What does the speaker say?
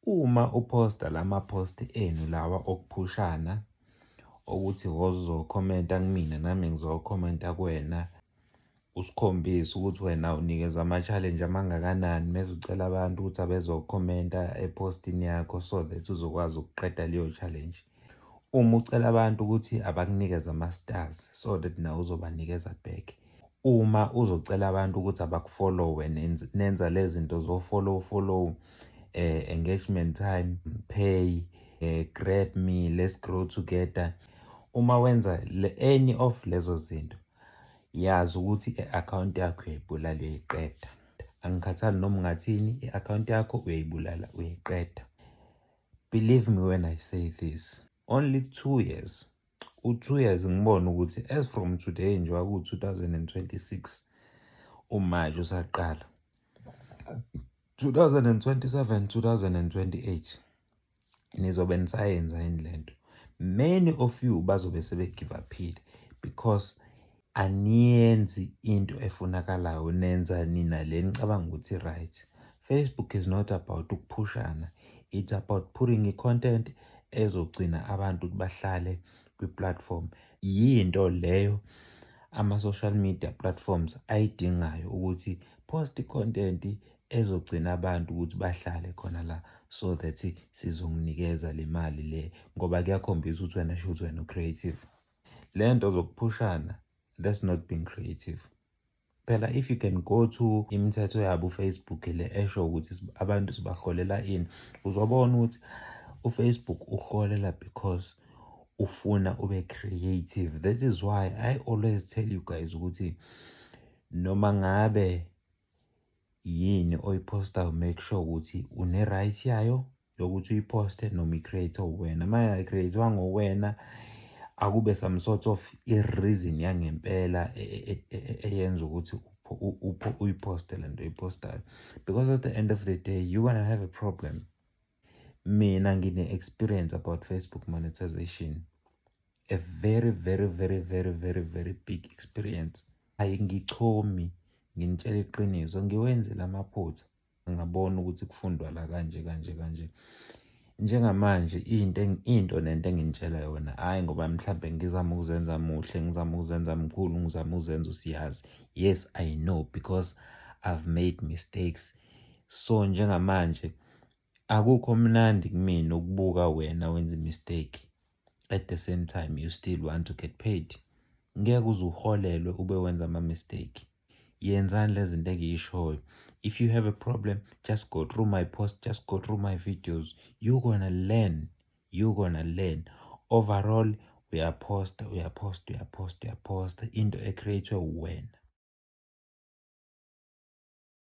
Uma uphosta lama post enu lawa okuphushana okuthi wozokhomenta kumina nami ngizokhomenta kuwena usikhombise ukuthi wena unikeza ama-challenge amangakanani mese ucela abantu ukuthi abezokhomenta epostini yakho so that uzokwazi ukuqeda leyo challenge. Uma ucela abantu ukuthi abakunikeze ama-stars so that nawe uzobanikeza back. Uma uzocela abantu ukuthi abakufollowe nenza le zinto zofollow follow eh, engagement time pay eh, grab me let's grow together uma wenza le, any of lezo zinto yazi ukuthi i-akhawunti yakho uyayibulala uyayiqeda angikhathali noma ungathini i-akhawunti yakho uyayibulala uyayiqeda Believe me when I say this, only two years u-two years ngibona ukuthi as from today nje waku-2026 umaje usaqala 2027 2028 nizobe nisayenza yini le nto many of you bazobe sebegivaphile because Aniyenzi into efunakalayo nenza nina le nicabanga ukuthi right. Facebook is not about ukuphushana. It's about putting i-content ezogcina abantu ukuthi bahlale kwi-platform. Yinto leyo ama-social media platforms ayidingayo ukuthi post i-content ezogcina abantu ukuthi bahlale khona la so that sizonginikeza le mali le ngoba kuyakhombisa ukuthi wena shuthi wena u-creative. le nto zokuphushana that's not being creative phela if you can go to imithetho yabo ufacebook le esho ukuthi abantu sibaholela ini uzobona ukuthi ufacebook uholela because ufuna ube creative that is why i always tell you guys ukuthi noma ngabe yini oyiphostayo make sure ukuthi une-right yayo yokuthi uyiphoste noma i-create uwena uma ingakreathiwanga uwena akube some sort of i-reason yangempela e, e, e, eyenza ukuthi uyiphoste le nto oyiphostayo because at the end of the day you gonna have a problem Mina ngine-experience about Facebook monetization. A very very very very very very big experience. Ayi ngichomi nginitshela iqiniso ngiwenzile amaphutha ngabona ukuthi kufundwa la kanje kanje kanje. Njengamanje into into nento enginitshela yona hhayi ngoba mhlampe ngizama ukuzenza muhle, ngizama ukuzenza mkhulu, ngizama ukuzenza usiyazi. Yes I know because I've made mistakes. So njengamanje akukho mnandi kumina ukubuka wena wenza imistake at the same time you still want to get paid ngeke uze uholelwe ube wenza ama-mistake yenzani le zinto engiyishoyo if you have a problem just go through my post just go through my videos you gonna learn you gonna learn overall uyaphosta uyaphosta uyaphosta uyaphosta into ecreatwe uwena